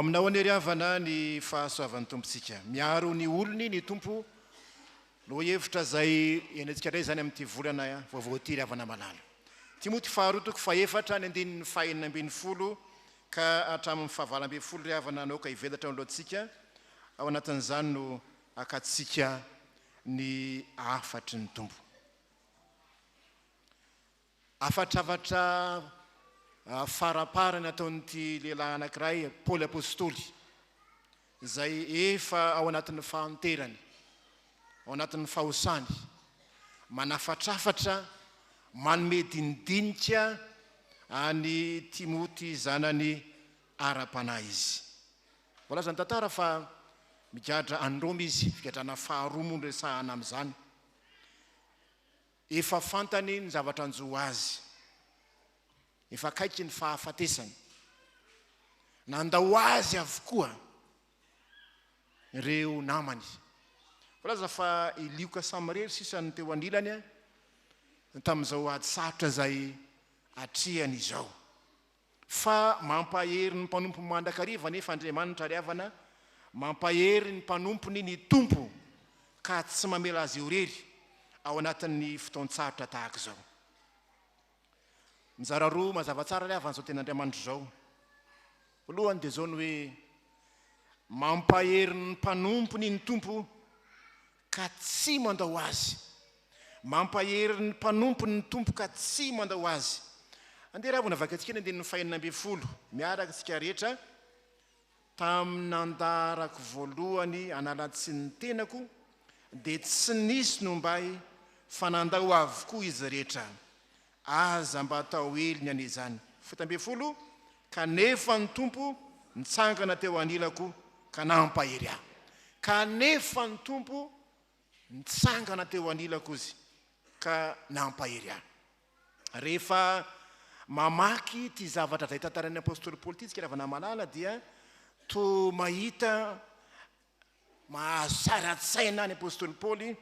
Aminao anie ry havana ny fahasoavan'ny Tompontsika. Miaro ny olony ny Tompo. Lohahevitra izay henontsika indray izany amin'ity volana vaovao ity ry havana malala. Timoty faharoa toko fahefatra ny andininy fahenina ambin'ny folo Ka hatramin'ny fahavalo ambin'ny folo ry havana nahoaka hivelatra ao alohantsika, ao anatin'izany no hakantsika ny hafatry ny Tompo. Hafatrafatra faraparany ataon'ity lehilahy anankiray, Paoly Apostoly. izay efa ao anatin'ny fahanterany, ao anatin'ny fahosany, manafatrafatra, manome dinidinika an'i Timoty zanany ara-panahy izy. Voalazan'ny tantara fa migadra any Roma izy, figadrana faharoa moa no resahana amin'izany. Efa fantany ny zavatra hanjo ho azy. Efa akaiky ny fahafatesany. Nandao azy avokoa ireo namany. Voalaza fa i Lioka samy irery sisa no teo anilany tamin'izao ady sarotra izay atrehany izao. fa mampahery ny mpanompo mandrakariva anefa Andriamanitra ry havana, mampahery ny mpanompony ny Tompo ka tsy mamela azy irery ao anatin'ny fotoan-tsarotra tahaka izao. Mizara roa mazava tsara ry havana izao tenin'Andriamanitra izao. Voalohany dia izao ny hoe mampahery ny mpanompony ny Tompo ka tsy mandao azy. Mampahery ny mpanompony ny Tompo ka tsy mandao azy. Andeha raha vao navakintsika ny andininy fahenina ambin'ny folo miaraka isika rehetra, Tamin'ny nandaharako voalohany anala-tsiny ny tenako dia tsy nisy nombay fa nandao avokoa izy rehetra. Aza mba atao eliny anie izany. Fito ambin'ny folo Kanefa ny Tompo nitsangana teo anilako ka nampahery ahy. Kanefa ny Tompo nitsangana teo anilako Izy ka nampahery ahy. Rehefa mamaky ity zavatra izay tantarain'ny apostoly Paoly ity isika ravanamalala dia toa mahita Mahazo tsara an-tsaina ny apostoly Paoly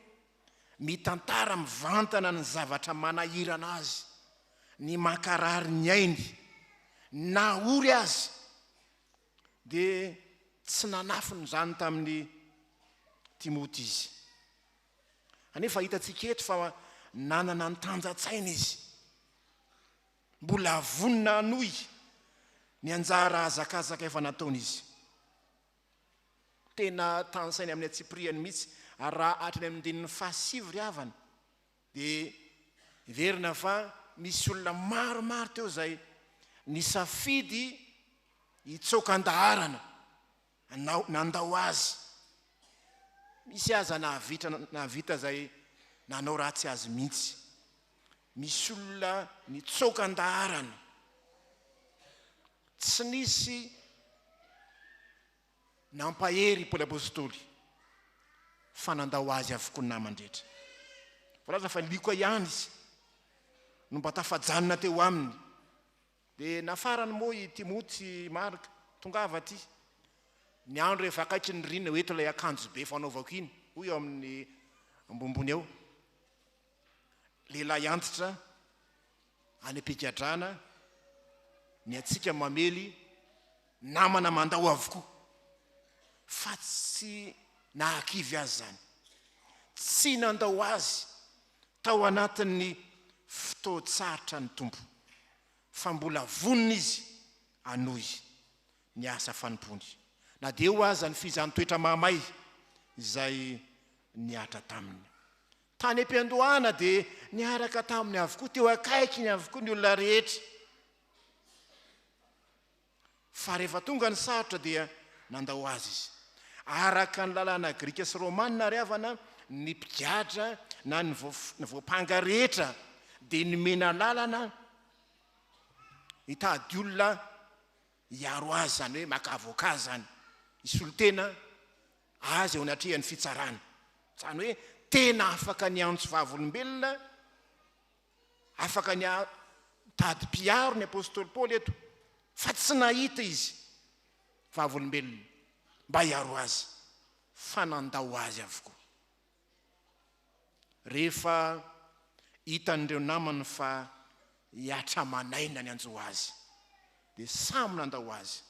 mitantara mivantana ny zavatra manahirana azy, ny mankarary ny ainy. Na ory aza, dia tsy nanafina izany tamin'i Timoty izy. Anefa hitantsika eto fa nanana ny tanjan-tsaina izy. Mbola vonona hanohy ny anjara hazakazaka efa nataony izy. tena tanisainy amin'ny antsipirihany mihitsy. Ary raha hatrany amin'ny andininy fahasivy ry havana dia heverina fa nisy olona maromaro teo izay nisafidy hitsoaka an-daharana hanao nandao azy. Misy aza nahavita nahavita izay nanao ratsy azy mihitsy. Misy olona nitsoaka an-daharana. Tsy nisy nampahery i Paoly Apostoly fa nandao azy avokoa ny namany rehetra. Voalaza fa Lioka ihany izy no mba tafajanona teo aminy. Dia nafarany moa i Timoty sy Marka, tongava aty. Ny andro efa akaiky ny rina, ho eto ilay akanjo be fanaovako iny, hoy eo amin'ny ambonimbony eo. lehilahy antitra any am-pigadrana, ny antsika mamely namana mandao avokoa, fa tsy nahakivy azy izany, tsy nandao azy tao anatin'ny fotoan-tsarotra ny Tompo, fa mbola vonona Izy hanohy ny asa fanompoany, na dia eo aza ny fihijan'ny toetra mahamay izay nihatra taminy. Tany am-piandohana dia niaraka taminy avokoa, teo akaikiny avokoa ny olona rehetra. Fa rehefa tonga ny sarotra dia nandao azy izy. Araka ny lalàna grika sy romana ary havana, ny mpigadra na ny voampanga rehetra dia nomena lalana hitady olona hiaro azy izany hoe maka avocat izany hisolo tena azy eo anatrehan'ny fitsarana izany hoe tena afaka ny antso vavolombelona afaka ny tady mpiaro ny apostoly paoly eto fa tsy nahita izy vavolombelona mba hiaro azy fa nandao azy avokoa Rehefa hitan'ireo namany fa hiatra man'aina ny hanjo azy, dia samy nandao azy.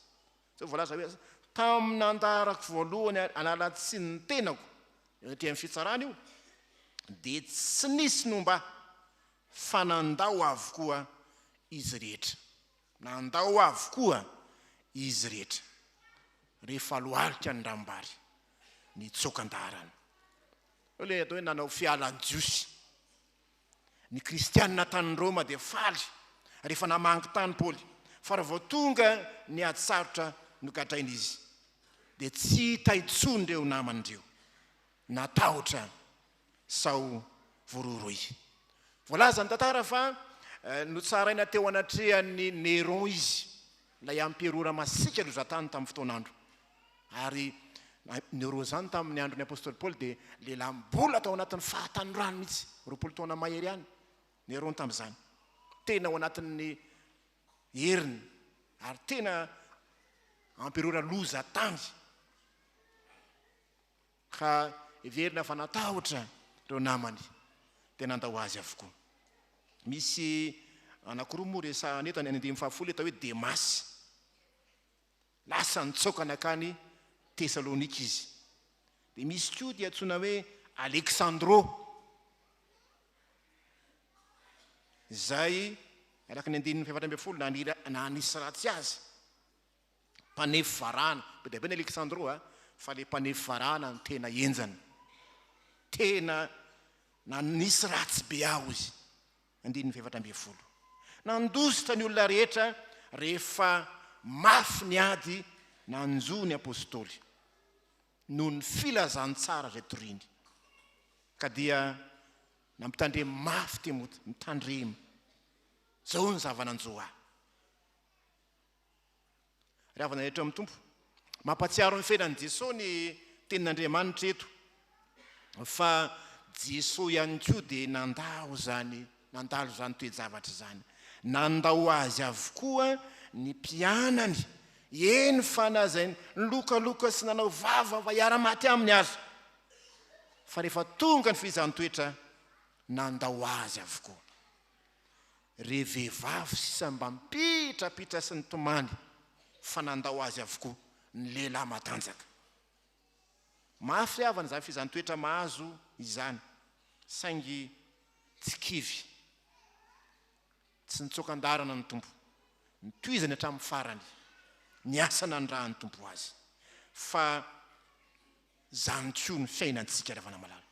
Izao no voalaza hoe, Tamin'ny nandaharako voalohany hanala tsiny ny tenako eo aty amin'ny fitsarana io, dia tsy nisy nomba ahy, fa nandao avokoa izy rehetra. Nandao avokoa izy rehetra, rehefa lohalika ny rambary. nitsoaka an-daharana. Eo ilay atao hoe nanao fialan-jiosy. Ny kristianina tany Roma dia faly rehefa namangy tany Paoly, fa raha vao tonga ny ady sarotra nogadraina izy, dia tsy hita intsony ireo namany ireo. Natahotra sao voroiroy. Voalaza ny tantara fa notsaraina teo anatrehan'i Néron izy, ilay amperora masiaka lozan-tany tamin'ny fotoan'andro. Ary Néron izany tamin'ny andron'ny apostoly Paoly dia lehilahy mbola tao anatin'ny fahatanorany mihitsy, roapolo taona mahery ihany Néron tamin'izany. Tena ao anatin'ny heriny ary tena amperora lozan-tany. ka heverina fa natahotra ireo namany dia nandao azy avokoa. Misy anankiroa moa resahana eto, ny any andininy fahafolo atao hoe Demasy. Lasa nitsoaka nakany Tesalonika izy. Dia misy koa dia antsoina hoe Aleksandro, izay araka ny andininy fahefatra ambin'ny folo naniry na hanisy ratsy azy. Mpanefy varahana. Be dia be ny Alexandro a! Fa ilay mpanefy varahana no tena henjana. Tena nanisy ratsy be aho izy. Andininy fahefatra ambin'ny folo. Nandositra ny olona rehetra rehefa mafy ny ady nanjo ny apostoly, noho ny filazantsara izay toriany. Ka dia nampitandremo mafy Timoty, Mitandrema. Izao no zava-nanjo ahy. Ry havana rehetra amin'ny Tompo, mampatsiaro ny fiainan'i Jesoa ny tenin'Andriamanitra eto fa Jesoa ihany koa dia nandao izany, nandalo izany toe-javatra izany. Nandao azy avokoa ny mpianany, eny fa na izay nilokaloka sy nanao vava mba hiara-maty aminy aza, fa rehefa tonga ny fihezan-toetra, nandao azy avokoa. Re vehivavy sisa mba mipitrapitra sy nitomany fa nandao azy avokoa ny lehilahy matanjaka. Mafy havana izany fehezan-toetra mahazo izany saingy tsy kivy. Tsy nitsoaka an-daharana ny Tompo. Nitohizany hatramin'ny farany ny asa nanirahan'ny Tompo azy fa Izany koa ny fiainantsika Ravainamalala.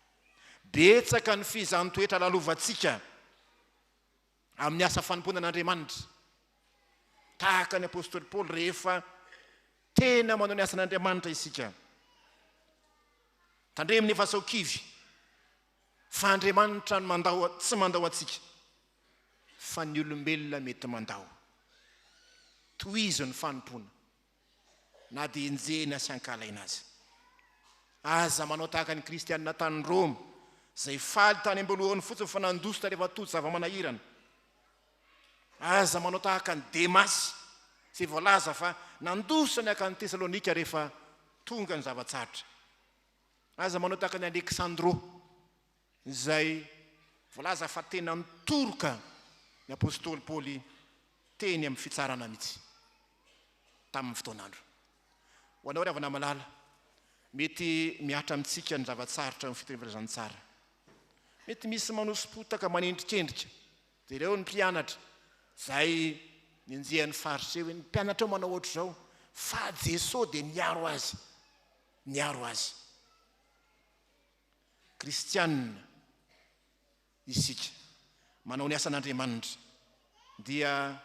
Betsaka ny fihizan-toetra lalovantsika amin'ny asa fanompoana an'Andriamanitra. Tahaka ny apostoly Paoly rehefa tena manao ny asan'Andriamanitra isika. Tandremo nefa sao kivy fa Andriamanitra no mandao tsy mandao antsika fa ny olombelona mety mandao. Tohizo ny fanompoana. na dia enjehina sy ankahalaina aza. Aza manao tahaka ny Kristianina tany Roma, izay faly tany am-boalohany fotsiny fa nandositra tarehefa tojo zava-manahirana. Aza manao tahaka an'i Demasy, izay voalaza fa nandositra ny hankany Tesalonika rehefa tonga ny zava-tsarotra. Aza manao tahaka an'i Aleksandro. izay voalaza fa tena nitoroka ny apostoly Paoly teny amin'ny fitsarana mihitsy tamin'ny fotoan'andro. Ho anao ry havana malala, mety mihatra amintsika ny zava-tsarotra eo amin'ny fiteny Filazantsara. Mety misy manoso-potaka manendrikendrika. Jereo ny mpianatra izay nenjehan'ny Fariseo hoe, Ny mpianatrao manao hoatr'izao, fa Jesoa dia niaro azy. Niaro azy. Kristianina isika, manao ny asan'Andriamanitra, dia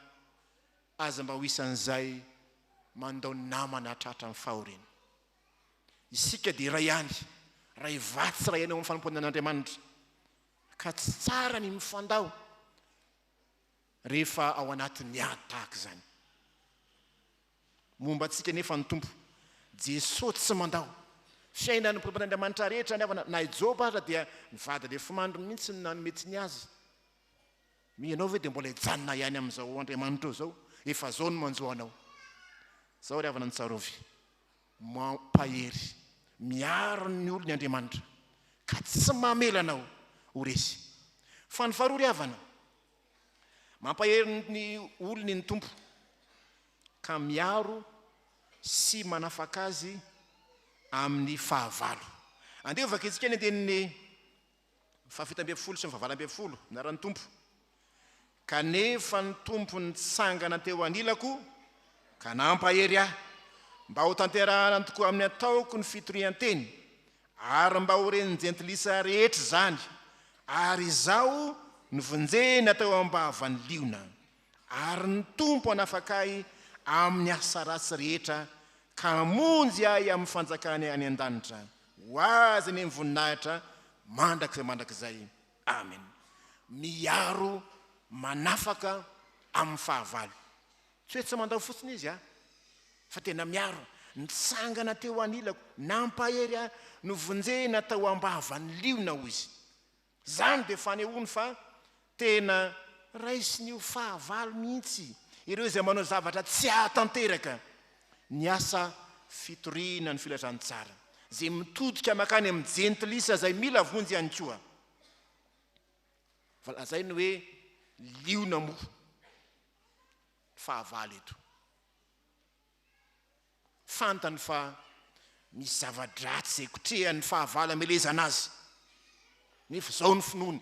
aza mba ho isan'izay mandao namana tratra amin'ny fahoriana. Isika dia iray ihany, iray vatsy iray ihany eo amin'ny fanompoana an'Andriamanitra, ka tsy tsara ny mifandao rehefa ao anatin'ny ady tahaka izany. Momba antsika anefa ny Tompo, Jesoa tsy mandao. Fiainan'ny mpiombon'Andriamanitra rehetra ny havana, na i Joba aza dia ny vady lefomandriny mihitsy no nanome tsiny azy. Moa ianao ve dia mbola hijanona ihany amin'izao Andriamanitrao izao? Efa izao no manjo anao. Izao ry havana ny tsarovy, mampahery, miaro ny olony Andriamanitra, ka tsy mamela anao ho resy. Fa ny faharoa ry havana, Mampahery ny olony ny Tompo, ka miaro sy manafaka azy amin'ny fahavalo. Andeha ho vakintsika ny andininy fahafito ambin'ny folo sy ny fahavalo ambin'ny folo, Anaran'ny Tompo. Kanefa ny Tompo nitsangana teo anilako ka nampahery ahy, mba hotanterahana tokoa amin'ny ataoko ny fitorian-teny, Ary mba ho ren'ny Jentilisa rehetra izany, ary izaho novonjena teo am-bavan'ny liona, ary ny Tompo hanafaka ahy amin'ny asa ratsy rehetra ka hamonjy ahy amin'ny fanjakany any an-danitra, ho Azy ny voninahitra mandrakizay mandrakizay. Amena. Miaro manafaka amin'ny fahavalo. Tsy hoe tsy mandao fotsiny izy aho, fa tena miaro aho. Nitsangana teo anilako, nampahery ahy, novonjena tao am-bavan'ny liona, hoy izy. Izany dia fanehoany fa tena raisiny ho fahavalo mihitsy ireo izay manao zavatra tsy hahatanteraka ny asa fitoriana ny filazantsara, izay mitodika mankany amin'ny jentilisa izay mila vonjy ihany koa. Fa lazainy hoe liona moa. fahavalo eto. Fantany fa misy zava-dratsy izay kotrehan'ny fahavalo hamelezana azy. Nefa izao ny finoany,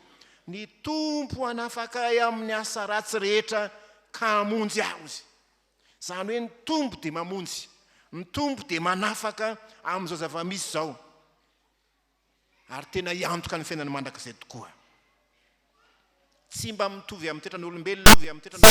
Ny Tompo hanafaka ahy amin'ny asa ratsy rehetra ka hamonjy ahy, hozy. Izany hoe ny Tompo dia mamonjy, ny Tompo dia manafaka amin'izao zava-misy izao. ary tena hiantoka ny fiainana mandrakizay tokoa. Tsy mba mitovy amin'ny toetran'olombelona izy izao.